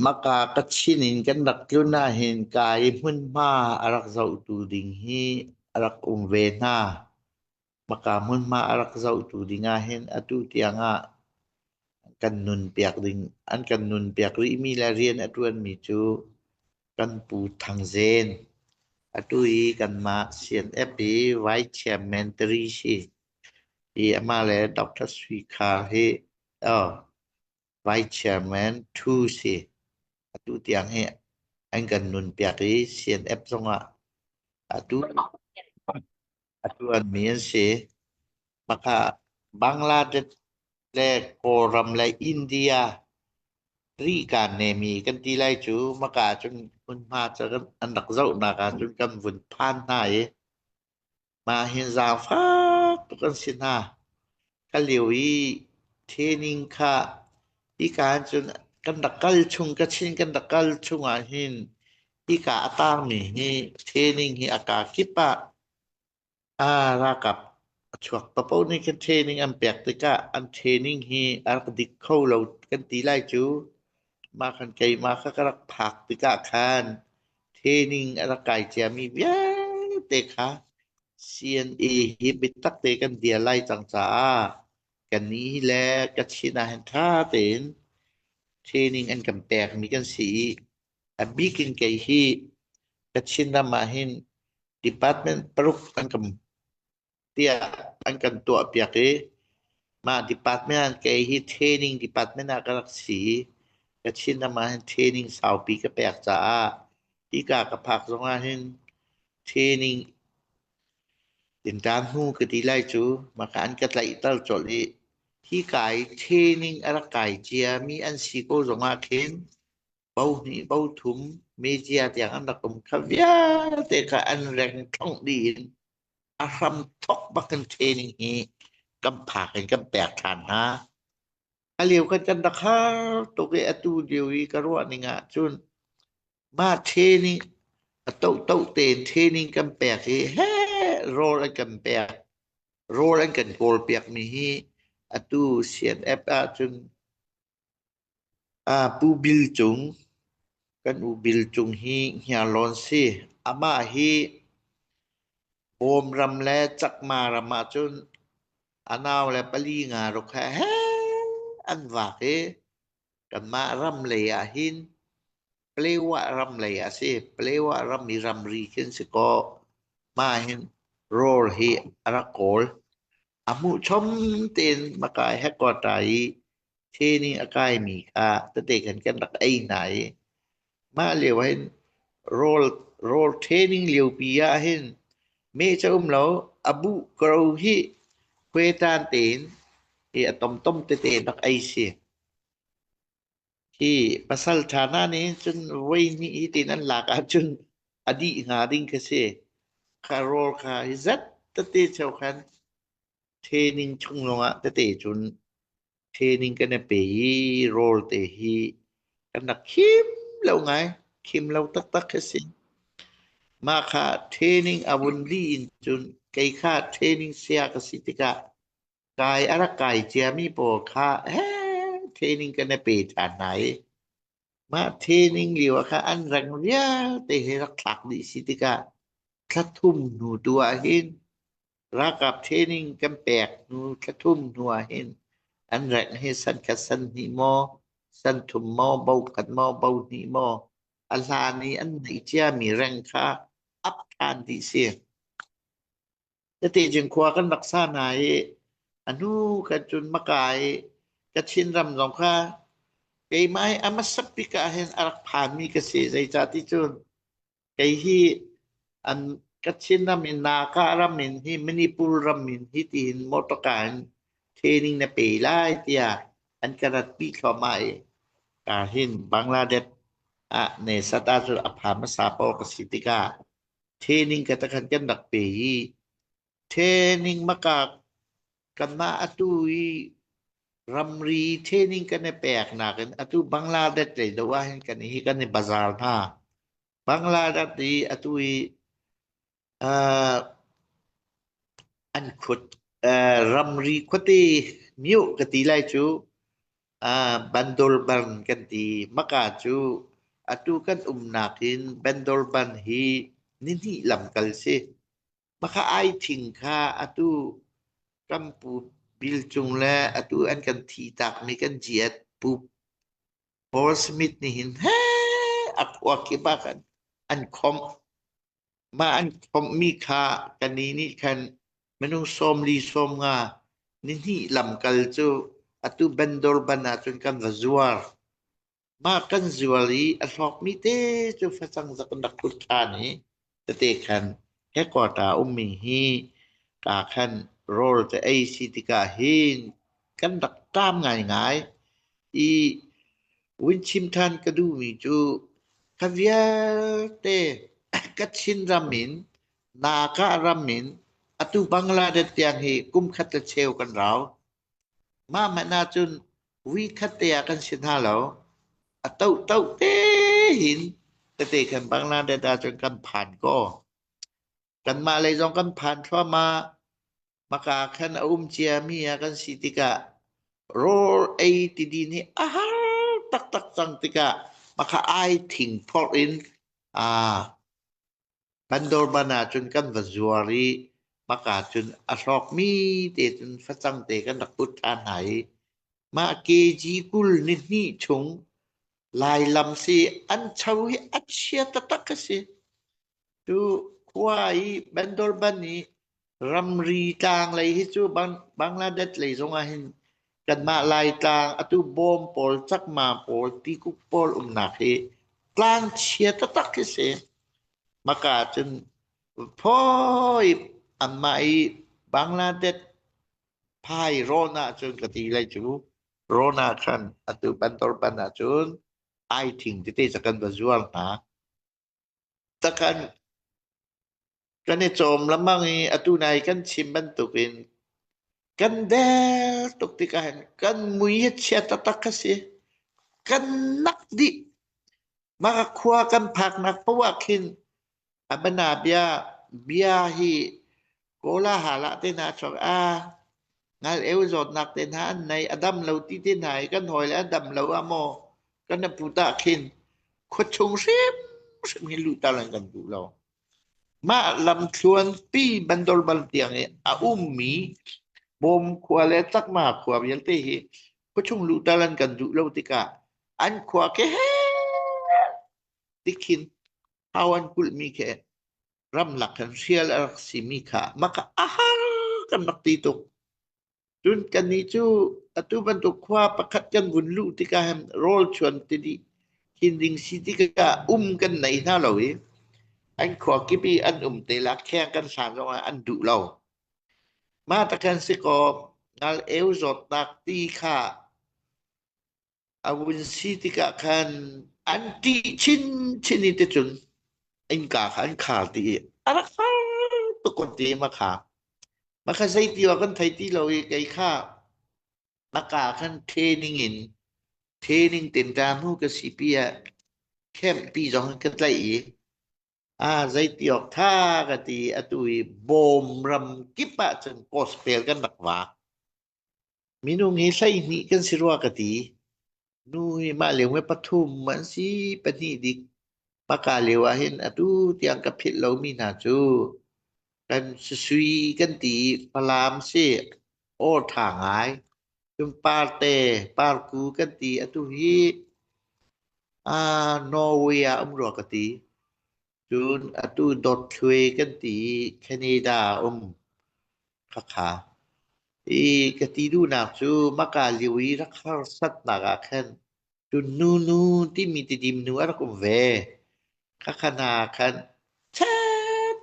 Maka Kachin in kan rak tlun ahhin Kai hmunhma a rak zohtu ding hi a rak um ve hna. Maka hmunhma a rak zohtu ding ahhin atu tiang ah kan nunpiak ding, an kan nunpiak rihmi le rian a ṭuanmi cu kan pu Thang Zen. Atu hi kanmah CNF i Vice Chairman Tari si. Hi amah le Dr. Sui Khar hi, oh, Vice Chairman Thu si. Atu tiang hi an kan nunpiak i CNF zongah atu atu an mi an si. Maka Bangladesh le Kawlram le India ri kan nemi kan ti lai cu maka ahcun hmunhma cu an rak zohnak ahcun kan vun phan hna i Mah hi zaangfak tuk an si hna. Ka lio i training kha hika ah cun kan rak kal chung, Kachin kan rak kal chung ahhin hika a taangmi hi training hi a kaa kip ah aa ralkap a chuak. Paoh nih khin training an pek tikah an training hi a rak dik kho lo kan ti lai cu. Mah kan keimah kha ka rak phak tikah khan training a rak kai ciami vialte kha CNA hi biatak te kan dir lai cang caah ka ni le ka chin ah hin ṭha tein training an kan pekmi kan si i a bik in kei hi Kachin ram ah hin department paruk an kan tiah an kan tuahpiak i mah department kei hi training department ah ka rak si i Kachin ram ah hin training saupi ka pek caah hika ka phak zong ah hin training din ṭan hnu ka ti lai cu maka an ka tlaihter colh i hi kai training a rak kai ciami an si ko zong ah khin bo hnih bo thum media tiang an rak um kha vialte kha an reng ṭhongh dih in a hram thok bak in training hi kan phak in kan pek ṭhan hna. A liu kan kan rak har tuk i atu lio i ka ruahning ah cun mah training a to to tein training kan pek hi he rawl an kan pek rawl an kan kawl piak mi hi atu CNF ah cun A Pu Bil Cung, kan u Bil Cung hi Hniarlawn si. Amah hi Bawm ram le Cakma ram ahcun a nau le pali nga ruk he an vaak i kanmah ram lei ahhin Palewa ram lei a si. Palewa ram i ramri khi an si kaw mah hin rawl hi a rak kawl. A hmuhchom tein na kai he ko ṭai i thi nih a kaimi kha tete khan kan rak ei hna i mah lio ah hin rawl rawl ṭheening liopi ah hin meh cu a um lo, a buh koro hi hue ṭan tein hi a tomtom tete in rak ei si. Hi pasalṭha hna nih cun voihnih i tiin an lak ahcun a dih hnga ding ka si. Kha rawl kha hi zat tete cheu khan ṭheening chung lawngah tete cun ṭheening kan i pe i rawl te hi kan rak khim lo ngai. Khim lo taktak ka si. Mah kha ṭheening a vun lih in cun kei kha ṭheening saya ka si tikah Kai a rak kai ciami pawl kha eh, training kan i pe ṭhan hna i mah training lio ah khan an rang vialte he rak thlak dih si tikah thla thum hnu tu ahhin ralkap training kan pek hnu thla thum hnu ahhin an rengh hi san khat san hnih maw san thum maw bo khat maw bo hnih maw a hlan i an neih ciami reng kha up ṭhan dih si. Tatejing khua kan rak sa hna i a hnu kan cun maka i ka thingram zong kha keimah i a hmasak bik ahhin a rak phanmi ka si. Zeicah ti cun kei hi an ka thingram i Naka ram in hi Manipur ram in hi tiin motor car in training na pe lai tiah an ka ratpi thluahmah i kaa hin Bangladesh ah ne sat ahcun a pha hmasa pawl ka si tikah Training ka takhan kan rak pe i training maka kan mah atu i ramri training kan i pek nakin atu Bangladesh lei do ah hin kan hi kan i bazar hna. Bangladesh i atu i uh, an khut uh, ramri khuate miu ka ti lai cu Ah Bandorban kan ti. Hmaka cu atu kan umnak in Bandorban hi nihnih lamkal si. Hmaka ai thing kha atu Rampu bil cung le atu an kan thi takmi kan jiat Pu Paul Smith nih hin hee a kuak i bak an, an khawmh. Mah an komhmi kha ka ni nih khan minung sawm li sawm nga nihnih lamkal cu atu bandor ban ahcun kan va zuar. Mah kan zuar i a hlawkmi te cu facang zak an rak kulh ṭhan i tete khan headquarter ummi hi kaa khan rawl ka ei si tik ahhin kan rak ṭam ngaingai i Winchim ṭhan ka duhmi cu ka vialte ka Chinram in Naka ram in atu Bangladesh tiang hi kum khat le cheu kan rau. Mah hmanh ahcun vui khat te ah kan si hna lo. A toh toh te hin tete kan Bangladesh ahcun kan phan ko. Kanmah lei zong kan phan thluahmah. Hmaka khan a um ciami ah kan si tikah rawl ei tidi nih a har taktak cang tikah hmaka ai thingphorh in aa kan dorman ahcun kan va zuar i hmaka cun a hlawkmi te cun facang te kan rak ut ṭhan hna i mah kg kul ni hnih chung lai lam si an cho hi a chia taktak a si. Cu khua i Bandurban i ramri tlang lei hi cu Bangladesh lei zongah hin kanmah Laitlang atu bawm pawl cakma pawl tikuk pawl umnak hi tlang chia taktak hi si. Maka cun phoi anmah i Bangladesh phai rawn ahcun ka ti lai cu rawn ahkhan atu Bandurban ahcun ai thing tete ca kan va zuar hna. Takhan kan i cawm lengmang i atu nai kan chim bantukin kan der tuk tikah hin kan mui hi chia taktak a si. Kan nak dih. Mah ka khua kan phaknak poah khin a bana bia, bia hi Kawla hal ah te hna chuak a ngal-eu zawtnak te hna an nei a dam lo ti te hna i kan hawi le a dam lo ah maw kan aput ah khin khua chung hrimhrim hi luhter an kan duh lo. Mah lamthluan pi bandor bal tiang i a ummi bawm khua le chakma khua vialte hi khua chung luhter an kan duh lo tikah an khua ke he tikhin hau an kulhmi khi ramlak kan hrial a rak simi kha maka a har kan rak ti tuk. Cun kannih cu atu bantuk khua pakhat kan vun luh tikah hem rawl chuan ti dih hin ding si tikah um kan nei hna lo i an khua kip i an um te la kheng kan hlan zong an duh lo. Ma ta kan si ko ngal eu zawt nak ti kha A vun si tikah khan an ṭih chinchin i ticun innka kha an khar dih i a rak har tuk kan ti ma kha. Ma kha zei ti kan thei ti lo i kei kha na ka khan training in training tin ta mu ka si pi ah camp pi zong ka tlaih i a zei ti awk tha ka ti atu i bawm ram kip ah cun post pel kan rak va. Minung hi hleihnih kan si rua ka ti. Nu hi mah lio mee pathum an si pahnih dik. Hmaka lio ahhin atu tiang ka philh lomi hna cu kan susui kan ti i Falam si awṭha ngai. Cun parte, parku kan ti. Atu hi aa Norway ah um rua ka ti. Cun atu Dawthlui kan ti i Canada a um. Khakha. I ka ti duhnak cu maka lio i rak harsatnak ah khan Cunnu nu timi tidim nu a rak um ve. Khakha hna khan chat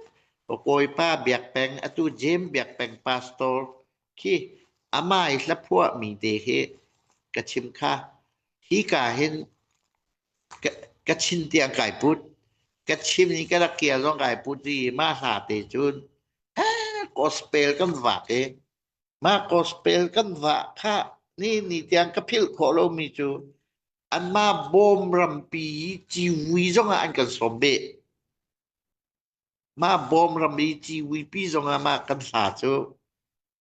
Kawipa Biak Peng atu James Biak Peng pastor khi amai hlaphuah mi te khi ka chim kha. Hi ka hin Ka chin tiang kai put. Ka chim i ka rak qial zong kai put i mah hla te cun gospel kan vak i mah gospel kan vah khah ni ni tiang ka philh khawh lomi cu anmah bawm rampi ciwi zongah an kan sawm beh. Mah bawm ram i ciwipi zongah mah kan hla cu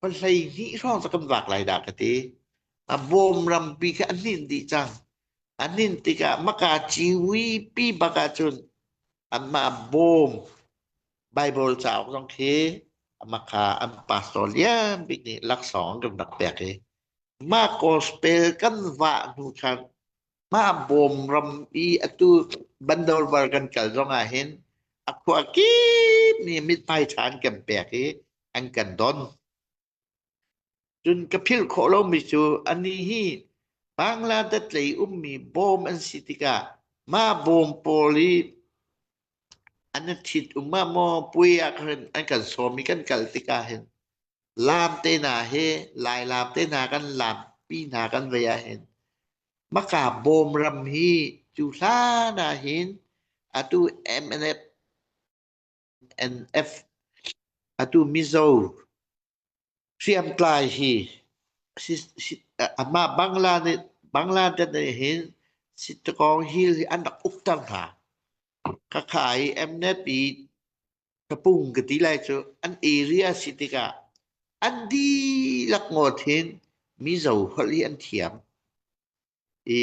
Pa hleihnih hrawng cu kan vak lai dah ka ti. A bawm rampi kha an nin dih cang. An nin tikah maka ciwi pi bak ahcun anmah bawm Bible cauk zong khi amaka an pastor lian bik nih laksawng an kan rak pek i mah gospel kan vah hnu khan mah bawm ram i atu Bandorvar kan kal zong ah hin a khua kip mi mithmai ṭhan kan pek i an kan don. Cun ka philh khawh lomi cu ani hi Bangladesh lei ummi bawm an si tikah mah bawm pawl i an thit um ah maw pui ah an kan sawm i kan kal tikah hin laam te hna he lailap te hna kan laam pi hna kan vei ah hin Hmaka bawm ram hi cu hlan ahhin atu MNF atu Mizo hriamtlai hi ahmah Bangladesh ahhin Sittagong Hill hi an rak uk cang hna. Khakha i MNF i ka pung ka ti lai cu an area si tikah an dihlak ngawt hin mizo holh hi an thiam i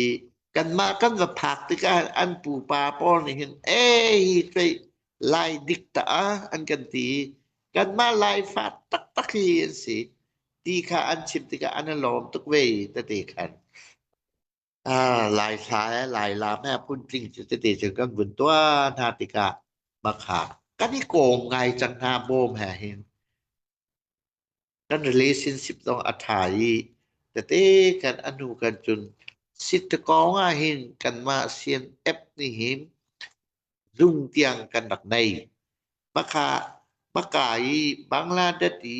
kanmah kan va phak tikah an pupa pawl nih hin ei kei lai dik ta an kan ti kanmah laifa taktak hi an si ti kha an chim tikah an lawm tuk ve ta te khan Ah, Laihla e Lailam e Puntling cu tete cu kan vun tuah hna tikah bakha kan i kawm ngai cang hna bawm he hin kan relationship zong a ṭha i tete kan anu kan cun sit kong ah hin kanmah sian app nih hin zung tiang kan rak nei. Bakha baka i Bangladesh i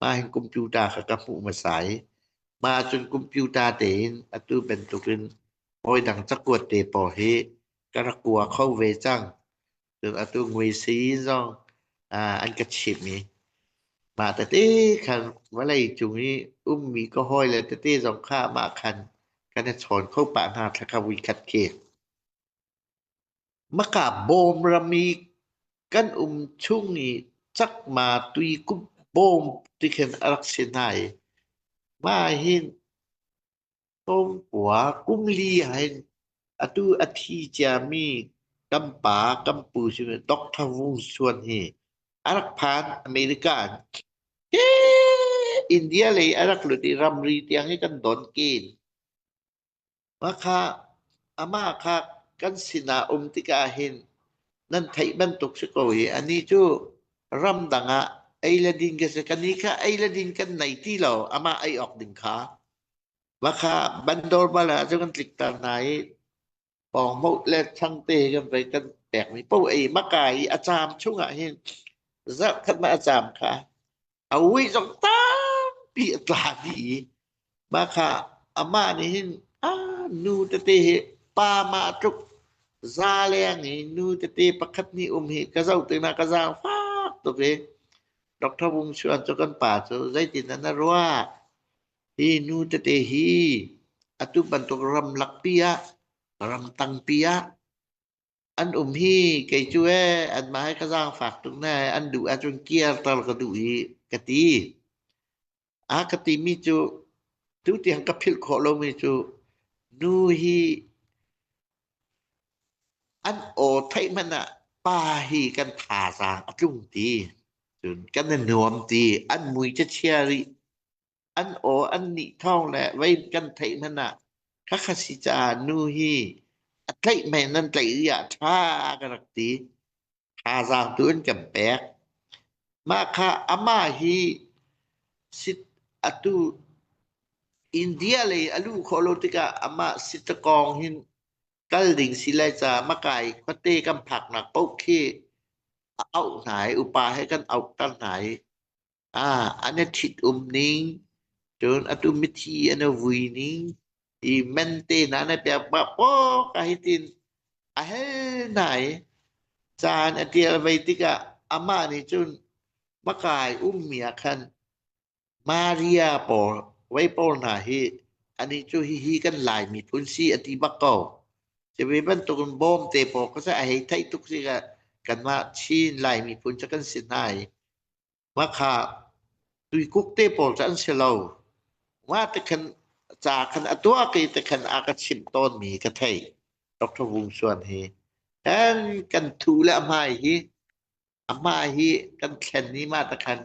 mah hin computer kha ka hmuh hmasa i mah ahcun computer tein atu bantukin hawi dang cakuat te pawl hi ka rak kua kho ve cang. Cun atu ngui sii zong ah an ka chimh i mah tete khan vawlei cung i ummi ka hawi le tete zong kha mah khan kan i chawn kho pah hna thla kha vui khat khi. Hmaka bawm ram i kan um chung i Cakma tuikum bawm ti khin a rak si hna i mah hin Tlawmkua kum li ah hin atu a thi ciami Kampa Kampu simi Doctor Wung Suan hi a rak phan America in India lei a rak lut i ramri tiang hi kan don kin. Pakha, amah kha kan sinah um tikah hin nan theih bantuk si ko i anih cu ramdang ah ei le din ka si. Kannih kha ei le din kan nei ti lo, amah ei awk ding kha. Vakha bandor bal ah cu kan tlikter hna i Pawngmawh le thangte kan vai kan pekmi paoh ei maka i a caam chungah hin zarhkhatnak a caam kha a uih zong tampi a tla dih i mah kha amah nih hin a nu tete hi pa mah tluk za leng i nu tete pakhat hnih um hi ka zoh tiknak ka zaangfak tuk i Dr. Wung Chuan cu kan pa cu zeitin dah na ruah? Hi nu tete hi atu bantuk ramlak pi ah ramtang pi ah an um hi kei cu ee anmah he ka zaangfak tuk ne an duh ahcun kierter ka duh i ka ti. A ka timi cu tu tiang ka philh khawh lomi cu nu hi an aw theih hmanh ah pa hi kan thazaang a tlung ti. Cun kan i nuam ti an mui ca chia rih. An aw an nih thawng le vei kan theih hmanh ah khakha si caah nu hi a tlaih mei nan tlaih rih ah ṭha ka rak ti. Thazaang tu in kan pek. Mah kha amah hi sit atu India lei a luh khawh lo tikah amah sitakawng hin kal ding si lai caah makai khuate kan phaknak paoh khi a auh hna i upa he kan auhter hna i Ah, an a ṭhitum ning, cun a tumithi an a vui ning, i men tenan a piak ma pawk ahitin a hel hna i caan a ṭial vei tikah amah nih cun makai ummi ah khan Maria pawl vei pawl hna hi anih cu hihi kan Laimi phun si a ti bak ko. Cubi bantukin bawmte pawl kha seh a hei theih tuk sikah kanmah Chin Laimi phun cu kan si hna i Hmakha tuikuk te pawl cu an si lo. Nga te khan ca khan a tuah ke te khan a ka chimh tawn mi ka thei. Dr. Wung Suan hi. Kan kan thu le a hmai hi a hmai hi kan thlen ni ma ta khan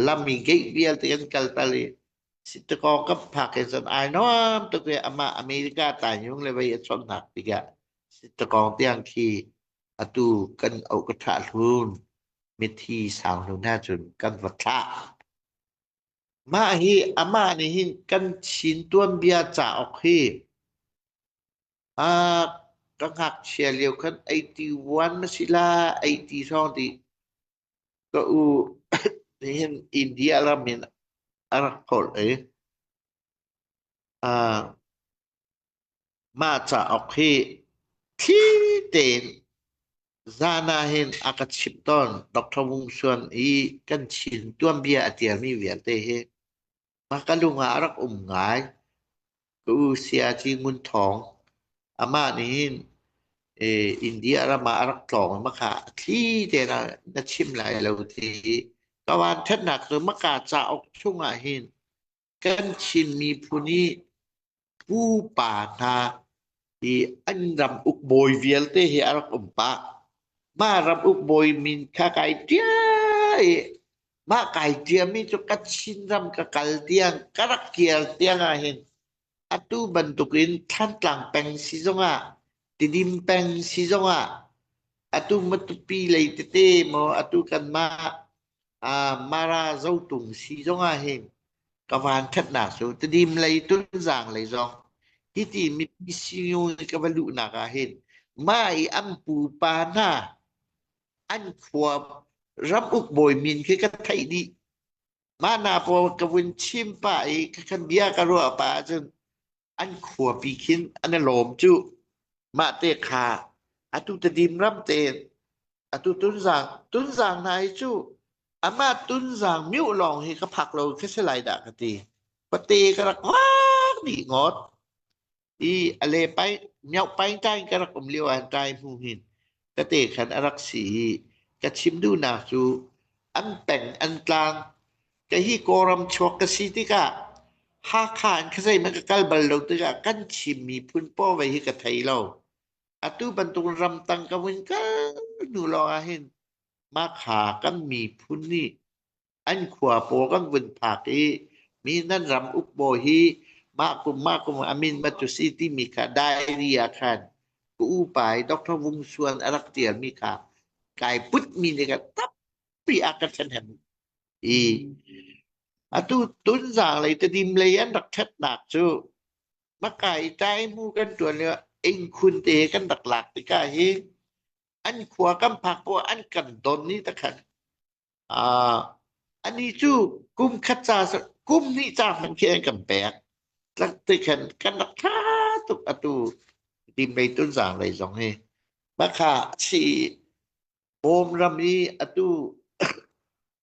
lami gate vialte kan kal tal i sitako ka phak in san ai nom to ke ama America ta yung le vai a chon nak tiga sitako tiang khi Atu kan auh ka ṭhah hlun. Mithi sau hnu hna cun kan va thlah. Mah hi amah nih hin kan chin tuanbia cauk hi ah ka ngakchia lio khan 81 na si la 83 ti ka u nihin India ram in a rak holh i ah Mah cauk hi thli tein zan ahhin a ka chimh tawn. Dr. Wung Suan i kan Chin tuanbia a tialmi vialte hi mah ka lung ah a rak um ngai. Ka u Sayagyi Ngun Thawng amah nihhin eh, India ram ah a rak tlawng i maka thli tein a na chim lai lo ti hi ka vanṭhatnak cu maka cauk chung ahhin kan Chin miphun i pupa hna hi an ram ukbawi vialte hi a rak um pah. Ma ram ukbawi min kha kai tia i ma kai tia mi cu ka Chin ram ka kal tiang ka rak kial tiang ah hin atu bantuk in Thantlang peng si zong ah Tidim peng si zong ah atu matupi lei tete maw atu kan mah Mara zotung si zongah hin ka vanthatnak cu Tedim lei Tunzang lei zong hiti mipi sinu nih ka va luhnak ah hin mah i an pupa hna an khua ram uk bawi min khi ka theih dih. Mah hna pawl ka vun chim pah i khakhan bia ka ruah pah ahcun An khuapi khin an i lawm cuh. Mahte kha atu tedim ram tein atu Tunzang Tunzang hna hi cu amah Tunzang miuh lawng hi ka phak lo khi si lai dah ka ti. Pate ka rak vaak dih ngot. I a le pai miau pain kai ka rak um lio an kai hnu hin ka te khan a rak si i ka chim duhnak cu an peng an tlang ka hi kawlram chuak ka si tikah Hakha in ka zeimah ka kal bal lo tikah kan chim miphun paw ve hi ka thei lo atu bantuk ram tang ka vun kal hnu lawng ah hin mah kha kan miphun nih an khua paw kan vun phak i mi nan ram uk baw hi mah kum mah kum amin ma cu si timi kha diary ah khan ka u pai Dr. Vung Suan a rak tialmi kha kai put mi ni ka tappi a ka thlen hem i atu tun zang lei te dim lei an rak that nak cu makai tai mu kan tuan le ing khun te kan rak lak tika hi an khua kam phak po an kan don ni ta khan Ah, anih cu kum khat ca kum hnih ca hmanh khi an kan pek. Tlak ti khan kan rak ṭha tuk atu dim mei tunzang lei zong hi. Bakha chi bawm ram i atu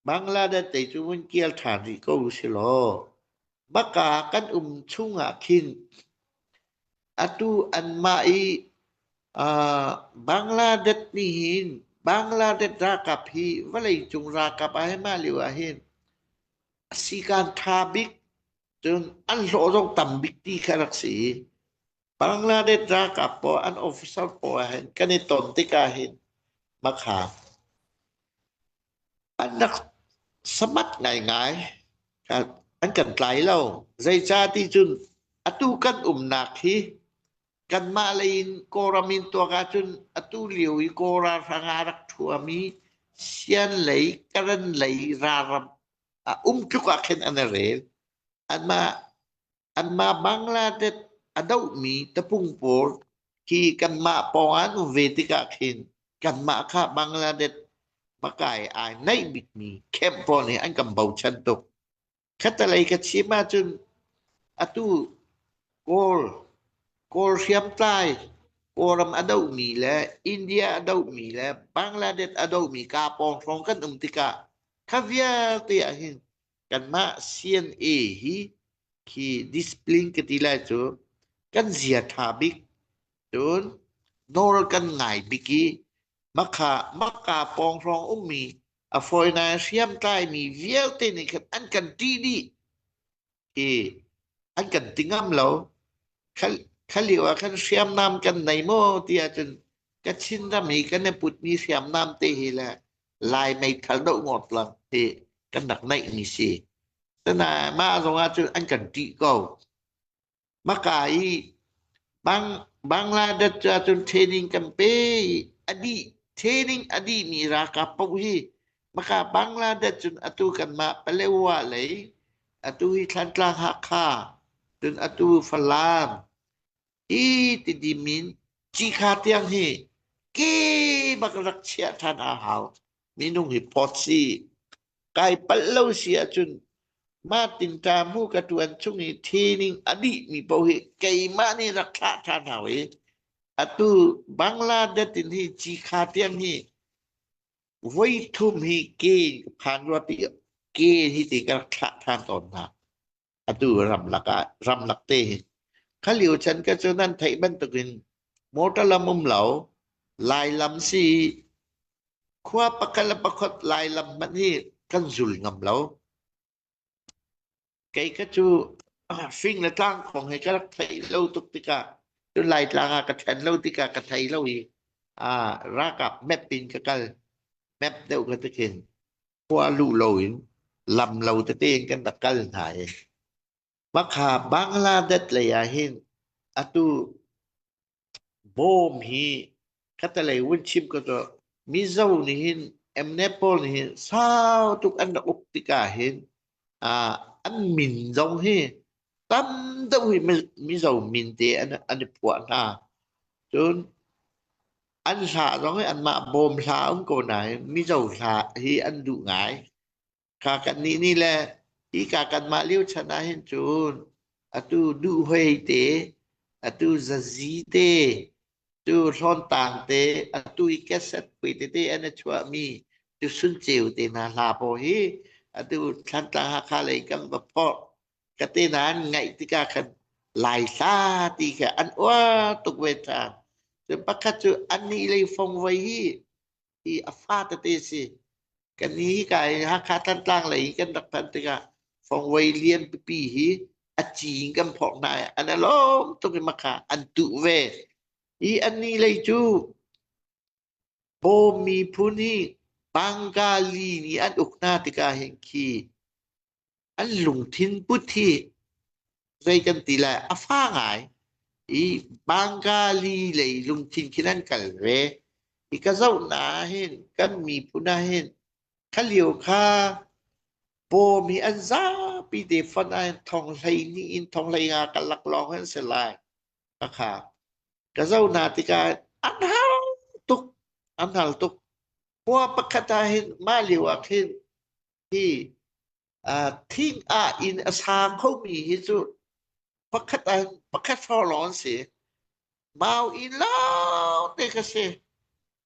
Bangladesh te cu vun kial ṭhan rih ko u silaw. Baka kan um chung ah khin atu anmah i Bangladesh nih hin Bangladesh ralkap hi vawleicung ralkap ah hi mah lio ah hin sikan tha bik cun an hlawh zong tam bik ti kha rak si i Bangladesh ralkap pawl an officer pawl hin kan i ton tikah hin makhang an rak samat ngaingai. An kan tlai lo. Zeicah ti cun atu kan umnak hi kanmah lei in Kawlram in tuak ahcun atu lio i Kawl ralhrang a rak thuami Sian lei, Karen lei ralram um tluk ah khin an i rel. Anmah Anmah Bangladesh a dohmi tapung pawl khi kanmah pawng an um ve tikah khin kanmah kha Bangladesh pakai ai naih bikmi camp pawl nih an kan bochan tuk. Khatalei ka chim ahcun atu Kawl, Kawl hriamtlai, Kawlram a dohmi le India a dohmi le Bangladesh a dohmi kaa pawng hrawng kan um tikah kha vialte ah hin kanmah CNA hi khi discipline ka ti lai cu kan zia ṭha bik cun nawl kan ngai bik i makha makka pawng hrawng ummi a fawina hriamtlaimi vialte nih khan an kan ṭih dih i an kan ti ngam lo khalio ah khan hriamnam kan nei maw tiah cun kachin ram i kan i putmi hriamnam te hi le Lai meithal doh ngawt lang hi kan rak neihmi si. Tana mah zong ahcun an kan ṭih ko. Maka i bang Bangladesh cu ahcun training kan pe i a dih training a dihmi ralkap paoh hi maka Bangladesh cun atu kanmah Palewa lei atu hi Thlantlang Hakha cun atu Falam Hi Tidim in Cikha tiang hi kebak rak chiah ṭhan a hau. Minung hi posi kai palh lo si ahcun Martin ta mu ka tuan chung i theining a dih mi paoh hi keimah nih rak thlah ṭhan hau i atu Bangladesh in hi Cikha tiang hi voi thum hi ke phan rua ti ke hi ti ka rak thlah ṭhan tawn hna. atu ramlak ah ramlak te khalio chan ka cu nan theih bantukin motor lam um lo lailam si khua pakhat le pakhat lailam man hi kan zul ngam lo kei ka cu fing le tlang khong he ka rak thei lo tuk tikah tu lai tlang ah ka then lo tikah ka thei lo i a rakap map in ka kal map deuh ka tikin khua luh loin lam lo tete in kan rak kal hna i Makha Bangladesh lei ah hin atu bom hi katalei vun chim ko cu Mizo nih hin emnep pawl nih hin sau tuk an rak uk tikah hin ah an min zong hi tam deuh hi Mizo min te an, an i puah hna cun An hla zong hi anmah bawm hla a um ko nain Mizo hla hi an duh ngai. Ka kannih ni le hi ka kanmah lio chan ah hin cun atu duh hoi te atu zazi te tu hlawntang te atu i cassette pui tete an i chuahmi tu sun ceu te hna hla pawl hi atu Thlantlang Hakha lei kan va phorh ka te nan ngaih tikah khan lai hla ti kha an uar tuk ve ṭhan cu pakhat cu anih lei fong voi hi hi a fa tete si ka ni hika i Hakha Thantlang lei i kan rak phan tikah fongvoi lian pipi hi a cing kan phawk hna i an alawm tuk i makha an tuh ve i ani lei cu bawm miphun hi bangka li nih an uk hna tikah hin khi an lungthin put hi zei kan ti lai a fa ngai i Bangali lei lungthin khin an kal ve i ka zoh na hin kan miphun ah hin khalio kha pawm hi an zapi te fon ah thong hlei ni in thong hlei nga ka lak lawng an se lai ka kha ka zo na tikah an hal tuk an hal tuk khua pakhat ah hin mah lio ah khin hi thing ah in a sa khomi hi cu pakhat an pakhat forlong an si mau in lao te ka si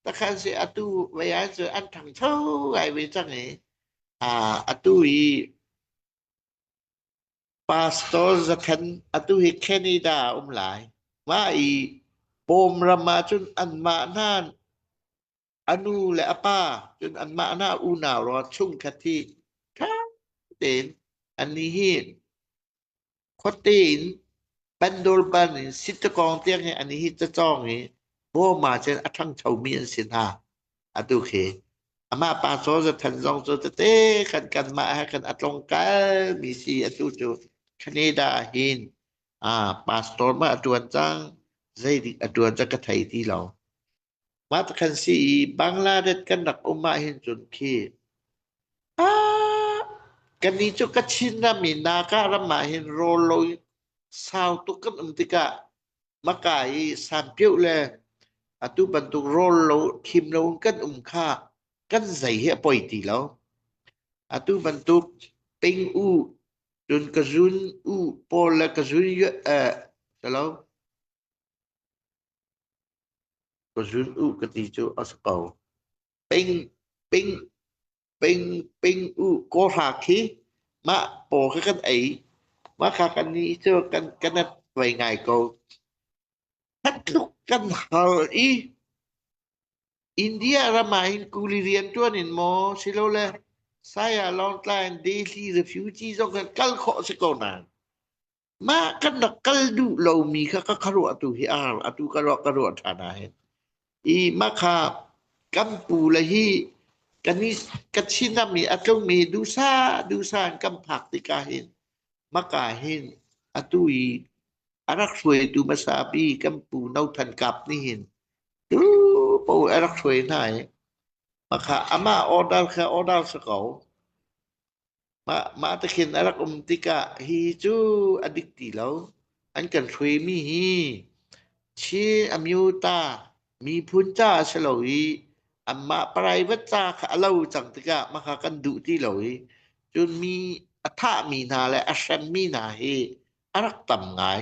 takhan si atu veyan cu an thang tho ai ve chang i atu i pastor zakhan atu hi Canada um lai ma i pom rama cun an ma nan A nu le a pa cun anmah nih unau rawn chungkhat hi ṭha tein an i hin. Khuate in Pandorban in Sittakong tiang i an i hit cacawng i bawm ahcun a ṭhangchomi an si hna. Atu khi amah pa Soza Than zong cu tete khan kanmah he khan a tlawngkalmi si atu cu Canada ah hin aa pastor mah a ṭuan cang. Zeidik a ṭuan cu ka thei ti lo. Mah pakhat si i Bangladesh kan rak um ahhin cun khi ah kannih cu Kachinram i Naga ram ahhin rawl lo in sau tuk kan um tikah maka i sampioh le atu bantuk rawl lo thim loin kan um kha kan zei hi a poi ti lo. Atu bantuk ping u cun ka zun u pawl le ka zun yue- eh, tilo Ka zun u ka ti cu a si ko. Ping, ping, ping, ping u kaw hra khi mah paw ka kan ei mah kha kan ni cu kan kan at vai ngai ko. Khat tluk kan hal i India ram ah hin kuli rian tuan in maw silole saya Lawngtlai and Delhi refugee zong kan kal khawh si ko nan. Mah kan rak kal duh lomi kha ka khuaruahtu hi a har. Atu ka ruah ka ruah ṭhan ahhin. I makha kampu le hi kan i ka chinam i a tlungmi dusa dusa in kan phak tikah hin maka hin atu i a rak hruaitu hmasa pi kan pu No Than Kap nih hin tu paoh a rak hruai hna i makha amah order kha order sa ko. Mah, mah te khin a rak um tikah hi cu a dik ti lo. An kan hruaimi hi Chin a myu ta miphun ca si lo i anmah private ca kha a lo cang tikah mahka kan duh ti lo i cun mi a thahmi hna le a hremmi hna hi a rak tam ngai.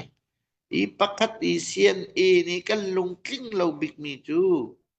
Hi pakhat i CNA nih kan lungtling lo bikmi cu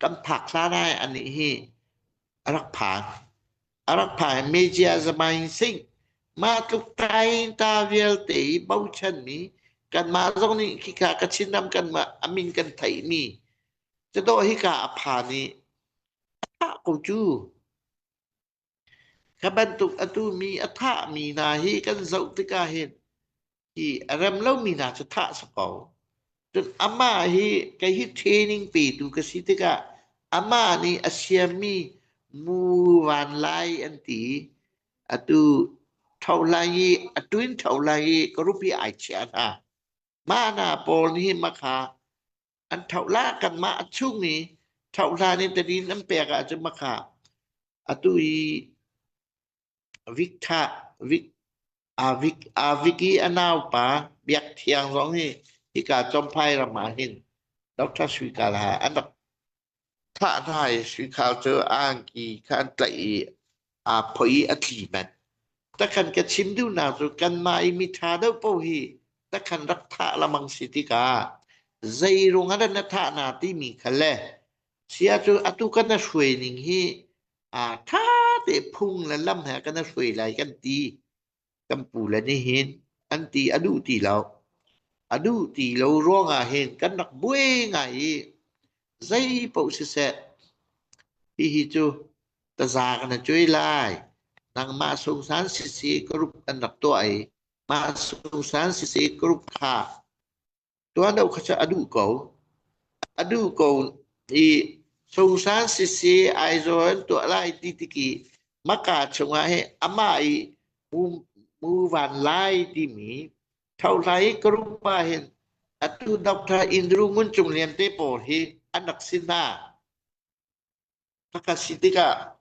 kan phak hlan ai anih hi a rak phan a rak phan media zamain sing mah tluk tai ta vialte i bochan mi kan mah zong nih khika ka chinam kan mah amin kan thei mi cito hika a phan i thah ko cu Ka bantuk atu mi a thahmi hna hi kan zoh tikah hin hi a rem lomi hna cu thah sa ko. Cun amah hi kei hi training petu ka si tikah amah nih a siammi mu van lai an ti i atu ṭho lai i a ṭuin ṭho lai i ka rupi ai chiah hna. Mah hna pawl nih ma kha an thoh la kanmah a chung i thoh hlan in tani nan pek ahcun maka atu i Vic tha Vic a Vic a Vic i a naupa Biak Thiang zong hi hika Chomphai ram ah hin Dr. Sui Kalaha an rak Thlahhlai hrikhau cu angki kha an tlaih i aa phoih i a tli manh. Takhan ka chim duhnak cu kanmah i miṭha deuh paoh hi takhan rak thah lengmang si tikah zeiruang ah dah na thah hna timi kha le sia cu atu kan na hruai ning hi aa ṭha te phung le lam he kan na hruai lai kan ti. Kan pu le nih hin an ti a duh ti lo. A duh ti lo ruangah hin kan rak buai ngai i zeipaoh siseh hihi cu taza ka na cuai lai. Nangmah sungsan sisi ka rup an rak tuah i mah sungsan sisi ka rup kha tuahlo kha cu a duh ko. A duh ko i Sungsa sisi Aizawl tuah lai ti tiki maka chungah hi amah i mu, mu van lai timi thohlai karuk pa hin atu Dr. Indru Ngun Cung Lian te pawl hi an rak si hna. Phaka si tikah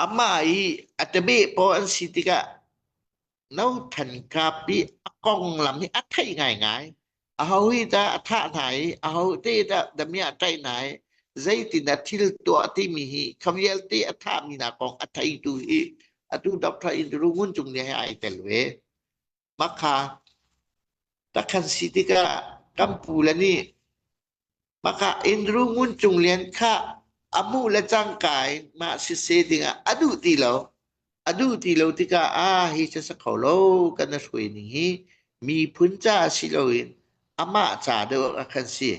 Amah i a ṭabeh paw an si tikah no than kapi a konglam hi a theih ngaingai. Aho hi tah a thah hna i aho te tah damiah a tlaih hna i zeitin a thil tuah timi hi kha vialte a thahmi hna kong a theitu hi atu Dr. Indru Ngun Cung nih ai tel ve. Makha takhan si tikah kan pu le nih maka Andrew Ngun Cung Lian kha a mu le cangka in mah sise dingah a duh ti lo a duh ti lo tikah ah hi cu sa kho lo kan na hruai ning hi miphun ca si loin amah ca deuh a kan si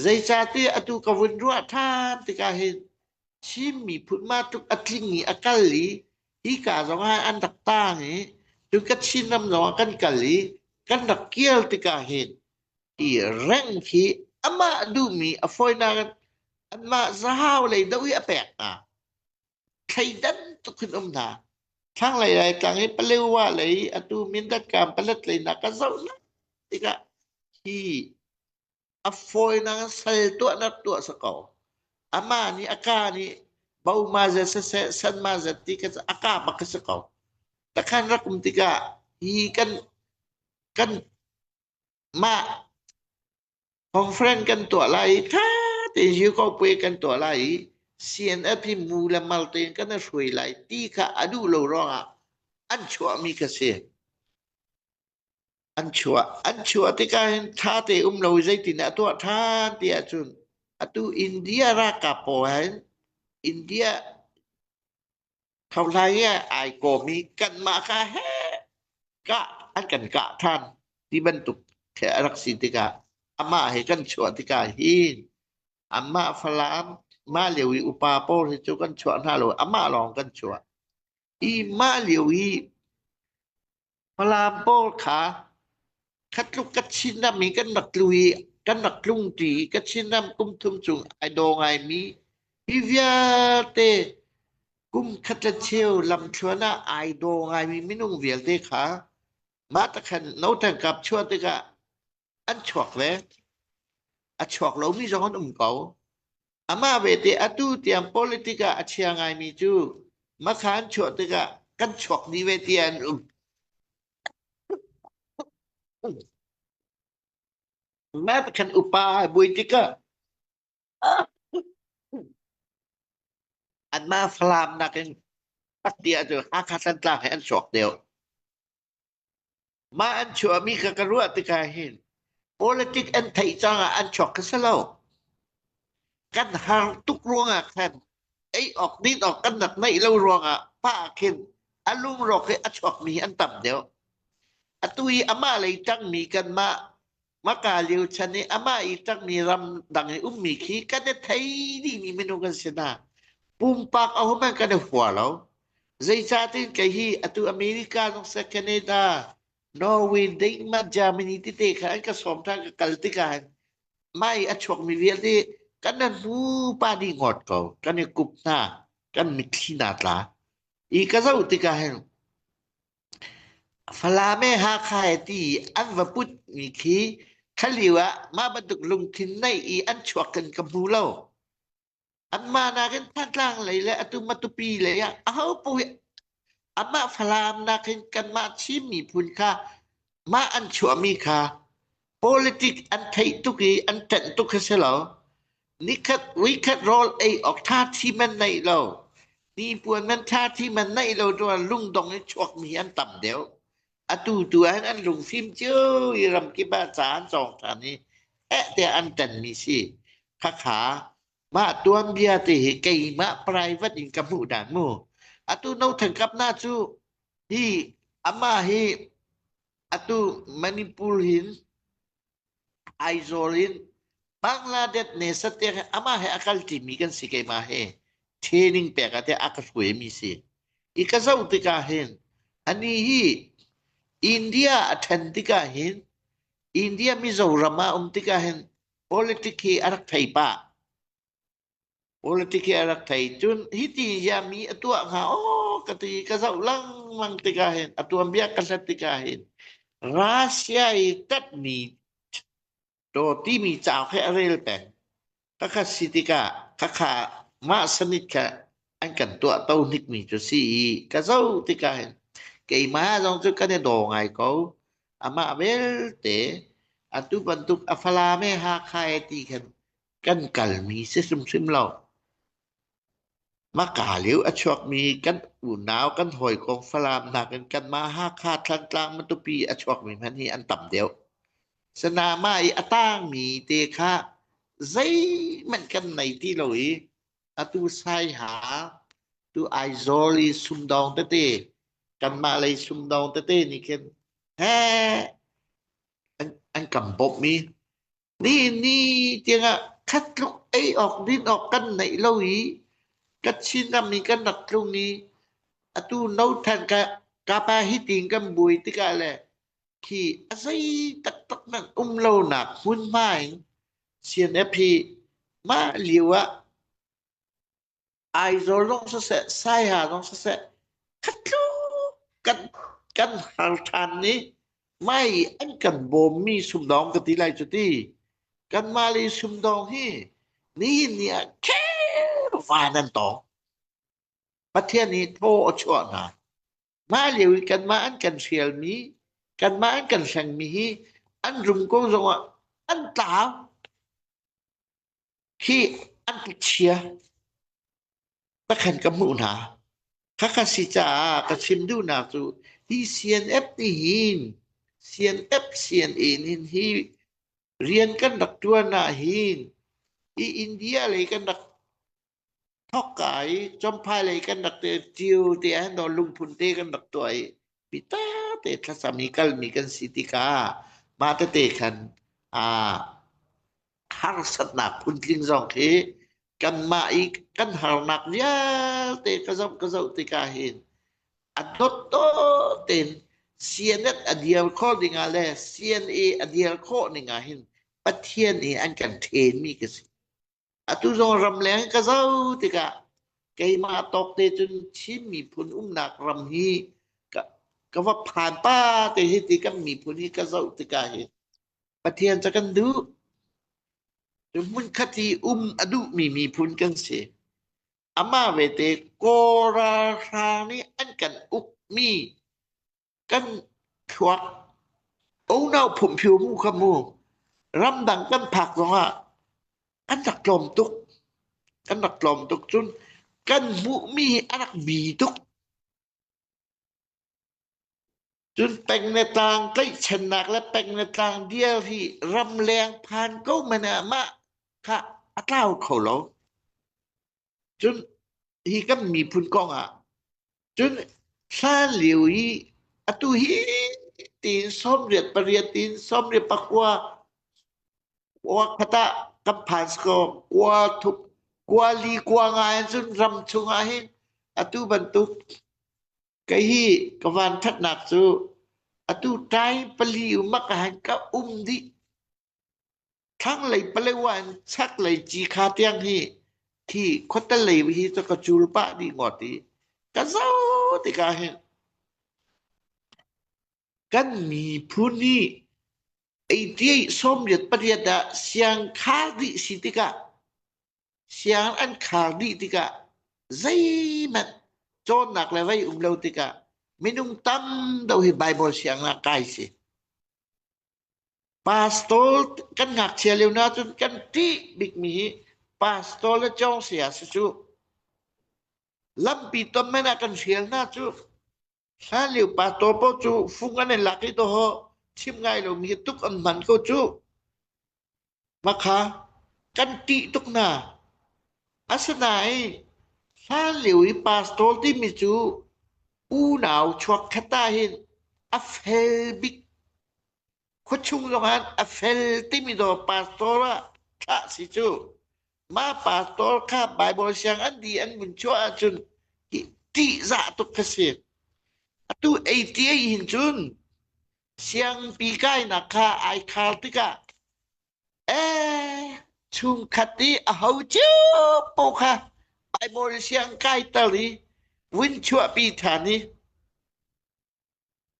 zeicahtiah atu ka vun ruah ṭhan tikah hin Chin miphun ma tluk a tling i a kal i Hika zongah an rak tang i cuka Chinram zongah kan kal i kan rak kir tikah hin i reng khi amah duhmi a fawinak in anmah zahau lei doh hi a pek hna. Thleidan tuk in um hna. Thlanglei Laitlang i Palewa lei atu Mindat kam Palat leinak ka zoh lai tikah hi A fawinak in sal tuahnak tuah sa ko. Ama nih a ka nih bau ma zat saseh san ma zat ti ka a ka bak ka si ko. Takhan rakum tikah hi kan kan ma conference kan tuah lai tha te ju ko pe kan tuah lai CNF hi mu le mal te kan shui lai ti kha adu lo rongah an chuah mi ka si. an chuah an chuah tikah hin tha te um lo zeitin a tuah than ti ahcun atu India ralkap pawl ha hin India thohlai i ai kawm hi kanmah ka he kah an kan kah than ti bantuk a rak si tikah amah he kan chuah tikah hin amah Falam mah lio i upa pawl hi cu kan chuah hna lo amah lawng kan chuah I mah lio i Falam pawl kha kha tluk ka Chinram i kan rak tlu i kan rak tlung ṭi i ka Chinram kum thum chung ai daw ngaimi hi vialte kum khat le cheu lamthluan ah ai daw ngaimi minung vialte kha mah takhan no than kap chuah tikah an chuak ve a chuak lomi zong an um ko Amah vete atu tiang politik ah a chia ngaimi cu makha an chuah tikah kan chuak dih ve ti an um. Mah kan upa ai buai tikah anmah Falam nakin patia cu Hakha Santlang he an chuak deuh. Mah an chuahmi kha ka ruah tikah hin politic an theih caah an chuak kha si lo. Kan har tuk ruangah khan ei awk din awk kan rak neih lo ruangah pa khin a lungrawk i a chuakmi an tam deuh. Atu i amah lei tangmi kanmah Maka Liu chan i amah i ṭangmi ram dang i ummi khi kan i thei dihmi minung an si hna. Pumpak a hum an kan i hua lo. Zeicahtin kei hi atu America zong se Canada, Norway, Denmark, Germany tete kha an ka sawm ṭhan ka kal tikah mai a chuakmi vialte kan nan hnu pa nih ngawt ko kan i kup hna kan mitthli hna tla i ka zoh tikah hin Falam e Hakha e ti an va put mi khi khalio ah mah bantuk lungthin nei i an chuak in ka hmu lo. Anmah nakin Thantlang lei le atu Matupi lei ah ahopo hi anmah Falam nakin kanmah Chin miphun kha mah an chuahmi kha Politic an theih tuk i an ṭanh tuk hi si lo. Nikhat weekend rawl ei awk ṭha thi man nei lo. Hnipuan man ṭha thi man nei lo ruang lungdong i chuakmi an tam deuh. Atu tu ahhin an lungfim cio i ramkip ah ca an cawng ṭhan i eh tiah an ṭanmi si. Khakha, mah tuanbia te hi keimah private in ka hmuh dan mu. Atu no thankamnak cu hi amah hi Atu Manipur hin Aizawl in Bangladesh ne satek he amah he a kal ṭimi kan si keimah hi training pek ah teh a ka hruaimi si. I ka zoh tikah hin ani hi India a ṭhen tikah hin India Mizoram ah um tikah hin politics hi a rak thei pah. Politic hi a rak thei. Cun hiti hiah mi a tuah hnga aw ka ti ka zoh lengmang tikah hin a tuanbia ka hlat tikah hin Russia i tatmi to timi cauk he a rel peng. Ka khat si tikah ka kha mah sanit kha an kan tuah to hnik mi cu si i ka zoh tikah hin keimah zong cu kan i daw ngai ko. Amah belte atu bantuk a falam e Hakha e ti khan kan kalmi si hrimhrim lo. Maka liu a chuakmi kan unau kan hawikom Falam nakin kanmah Hakha Thantlang Matupi a chuakmi hmanh hi an tam deuh. Sanama i a tangmi te kha zeihmanh kan nei ti lo i atu sai ha tu Aizawl i sumdong tete kanmah lei sumdong tete nih khin he an, an kan bawmh mi Nihni tiangah khat tluk ei awk din awk kan neih lo i ka Chinram i kan rak tlung i atu no than ka ka pa hi ting kan buai tikah le khi a zei taktak nan um lo nak hmunhma in CNF hi mah lio ah Aizawl zong siseh, Saiha zong siseh, khat tluk kan, kan hal ṭhan i mai an kan bawmmi sumdawng ka ti lai cu ti. Kanmah le sumdawng hi nihin ni ah khel van an tawng. Pathian hi thaw a chuah hna. Mah lio i kanmah an kan hrialmi, kanmah an kan hlengmi hi an rum ko zongah an tlau. Hi an chia pakhat ka hmuh hna. Khakha si caah ka chim duhnak cu hi CNF nih hin CNF CNA nih hi rian kan rak tuan ah hin hi India lei kan rak thokka i chomphai lei kan rak te tiu te ah no lungphun te kan rak tuah i pita te thlasam i kalmi kan si tika mah tete khan a harsatnak phuntling zong khi kanmah i kan harnak vialte ka zoh ka zoh tika hin a dot to ten CNF a dial kho ding ah le CNA a dial khawh ning ah hin Pathian i an kan ṭhen mi ka si. Atu zong ramleng ka zoh tikah keimah tawk te cun Chin miphun umnak ram hi ka, ka va phan pa te hi ti kan miphun hi ka zoh tikah hi Pathian cu kan duh. cu hmunkhat hi um a duhmi miphun kan si. Amah vete Kawlralhra nih an kan ukmi kan thluak unau phungphio mu kha mu ramdang kan phak zongah an rak tlawm tuk kan rak tlawm tuk cun kan hmuhmi hi a rak bi tuk cun peng le tlang tlaihchennak le peng le tlang dial hi ramleng phan ko men ah mah kha a tlau kho lo Cun hi kan miphun kong ah cun hlan lio i atu hi tiin sawmriat pariat tiin sawmriat pakua wakhat ah kan phan ko kua thup kua li kua nga in cun ram chungah hin atu bantuk kei hi ka van ṭhatnak cu atu ṭai pali umak a han ka um dih Thlanglei Palewa in chaklei Cikha tiang hi khi khuatelei hi cu ka cul pah dih ngawt i ka zoh tikah hin kan miphun hi eighty-eight sawmriat pariat ah siang khar dih si tikah siang an khar dih tikah zeihmanh cawnnak le vei um lo tikah minung tam deuh hi Baibal siangnak kai si. Pastor kan ngakchia lio na ahcun kan ṭih bikmi hi pastor le cong saya si cuh. Lampi ton men ah kan hrial hna cuh. Hlan lio pastor paoh cu fung an in lak i dawh hawh chim ngai lomi hi tuk an hman ko cuh. Makha kan ṭih tuk hna. Asinain hlanlio i pastor timi cu unau chuakkhat ahhin a fel bik. Khuachung zongah a fel timi zaw pastor ah thlah si cu. Mah pastor kha Baibal sianginn an di an vun chuah ahcun ṭihzah tuk kha si. Atu 88 hin cun Siangpi kainak kha ai khar tikah eh chungkhat i a ho cio po kha Bible siang kai tal i vun chuahpi than i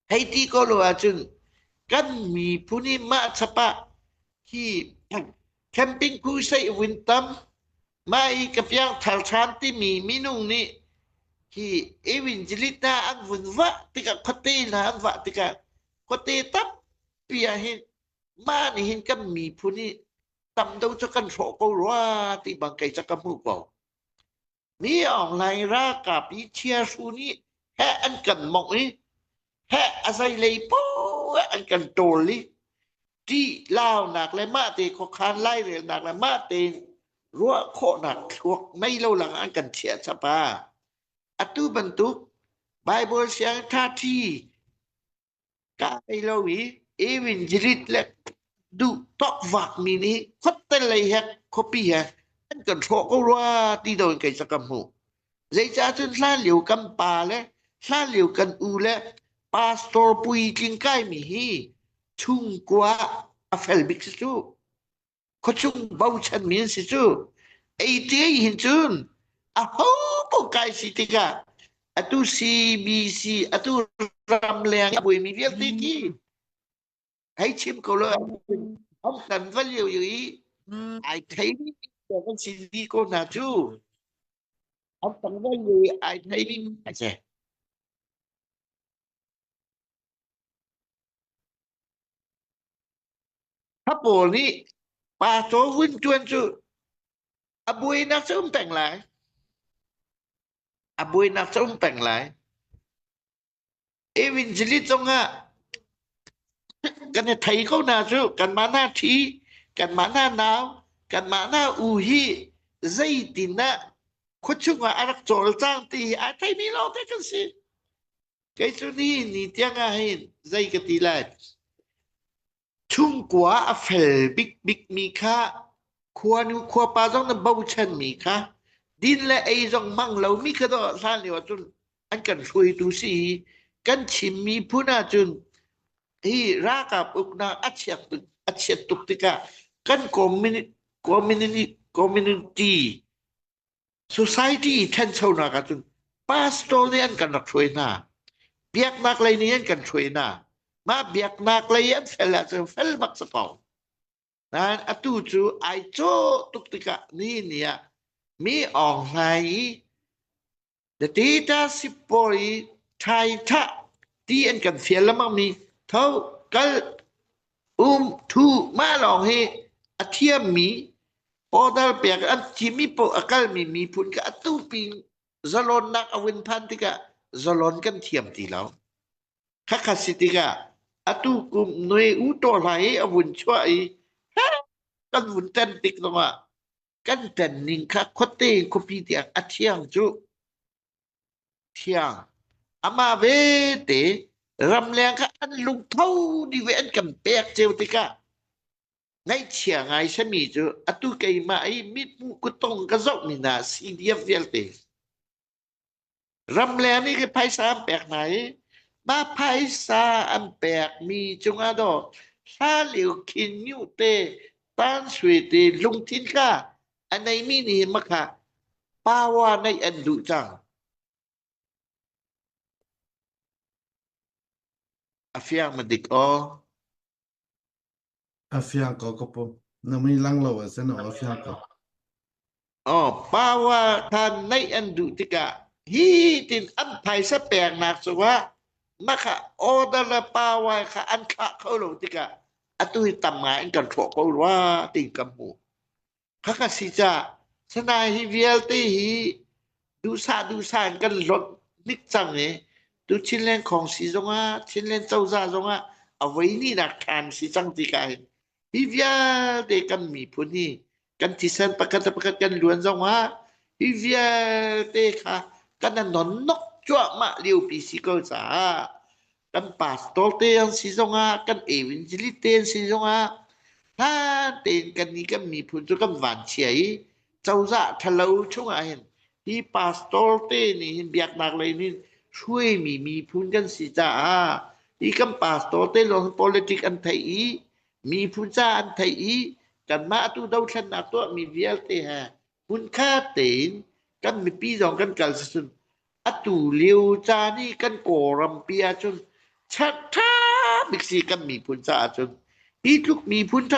hei ti ko lo ahcun kan mi phuni mah chapa hi camping ku sei vun tam Mah i ka piangthar ṭhan timi minu nih hi Evangelista an vun vah tikah khuate hna an vah tikah khuate tampi ah hin mah nih hin kan miphun i tam do cu kan hrawh ko rua ti bang kei cu ka hmuh ko. Mi Aung Hlaing ralkap i chia hru nih heh an kan mongh i heh a zeilei poh an kan ṭawl i ṭih launak le mahte khuakhan lairelnak le mahte ruah khawhnak thluak mei lo lang an kan chiah chapa atu bantuk Bible siang ṭhaṭhi kai lo i evangelist le duh tokvak mi nih khuatte lei he khuapi he an kan hrawh ko rua ti do in kei sakam hmuh Zeicahcun hlanlio kan pa le hlanlio kan u le pastor puitling kaimi hi chungkua a fel bik si cu. Khuachung bochanmi an si cu. ATA hin cun aho paoh kai si tikah atu CBC atu ramleng a buaimi vialte khi Kai chim ko lo am kan va liu i ai thei kan si di ko hna cu am kan va liu i ai thei ding a che a pawl nih pa to vun tuan cu a buai nak cho um peng lai a buai nak cho um peng lai Evangeli cungah kan i thei ko hna cu kanmah hna ṭhi kanmah hna nau kanmah hna u hi zeitinah khua chungah a rak cawlcang ti hi ai theimi lawngte kan si kei cu ni ni tiang ah hin zei ka ti lai Chungkua a fel bikbikmi kha, khuanu khuapa zong nan bochanmi kha, din le ei zong hmang lomi kha dawh hlan lio ah cun an kan hruaitu si i kan chim miphun ahcun hi ralkap uknak a chiat tuk a chiat tuk tikah kan community community Society i ṭhanchonak ahcun pastor nih an kan rak hruai hna. Biaknak lei nih an kan hruai hna. Mah biaknak lei an fel ahcun fel bak si ko. Nain atu cu ai cawh tuk tikah ni ni ah mi awng hlai i The dictatorship pawl i thai thah ti an kan fial lengmang mi tho kal um thu ma lawng hi a thiam mi order pek an thim mi a kal mi mi phun ka a tu pi zalon nak a win phan tikah zalon kan thiam ti lo kha kha si tikah atu kum noi u to lai a vun chua i kan vun ten tik lawngah kan ṭanning kha khuate khuapi tiang a thiang cu thiang amah vete ramleng kha an lungtho ni ve an kan pek ceu tikah ngaihchia ngai sami cu atu keimah i mithmuh kutong ka zoh ni na si diam vialte Ramleng nih khin phaisa an pek hna i mah phaisa an pekmi cungah daw hlanlio khinyu te tansui te lungthin kha a neimi nih hin maka power neih an duh cang. A fiang madik aw. A fiang ko ka pu. Na mui lang lo ah cun a fiang ko. Oh, power than neih an duh tikah hi tin an phaisa pek nak cungah na kha order le power kha an khah kho lo tikah atu hi tam ngai in kan thawh ko rua ti kan hmu. Khaka si cah. Sanai hi vialte hi duhsah duhsah in kan hlonh hnik cang i tu Chinland Khong si zongah Chinland cozah zongah a voi nihnak time si cang ti ka hin. Hi vialte kan miphun hi kan thisen pakhat le pakhat kan luan zongah hi vialte kha kan a nonnok cuahmah liopi si ko caah kan pastor te an si zongah kan evangelist te an si zongah hlan tein kan nih kan miphun cu kan vanchia i cozah ṭhalo chungah hin hi pastor te nih hin biaknak lei nih hruaimi miphun kan si caah hi kan pastor te lawng hin politic an theih i miphun ca an theih i kanmah tu dothlennak tuahmi vialte he Hmunkhat tein kan mipi zong kan kal sicun atu lio caan i kan Kawlrampi ahcun ṭha bik si kan miphun caah cun hi tluk miphun ṭha